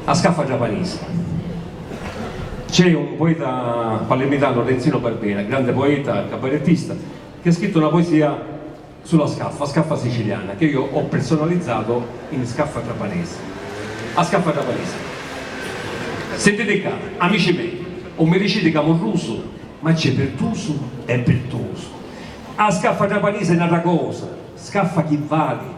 A scaffa giapanisi. C'è un poeta palermitanu Renzino Barbera, grande poeta e cabarettista, chi ha scrittu na poesia su la scaffa, a scaffa siciliana, ca io ho personalizzato in scaffa giapanesi. A scaffa giapanisi. Sentiti cca, amici mei, 'un mi diciti ca murrusu, ma c'è pirtusu e pirtusu. A scaffa giapanisi è n'atra cosa, scaffa chi vali,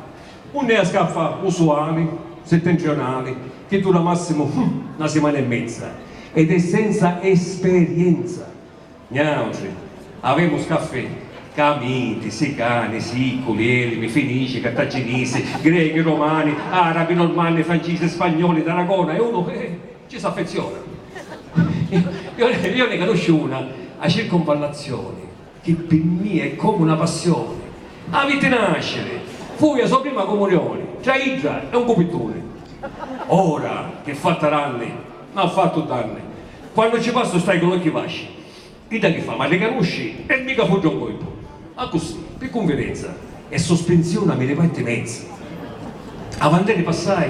Unni a scaffa usuali, settentrionali, chi dura massimu hum na simana e mezza ed è senza esperienza. Niautri avemu scaffi ca miti, sicani, siculi, elimi, finici, cartaginisi, grechi, romani, arabi, normanni, francisi, spagnoli, d'Aragona e unu eh ci s'affeziona. Io ne canusciu una, a circunvallazioni. Chi pi mmia è comu 'na passioni. Avi ti nasciri. Fui a so prima comunioni. Tra iddra e un cupittuni. Ora ch'è fatta ranni. M'ha fattu danni. Quannu ci passu stai cu l'occhi vasci. Idda chi fa, m'arricanusci e mi capuddra un coipu. Accussì, pi cunvidenza. E sospinziuna mi livai ti mezza. Avanderi passai.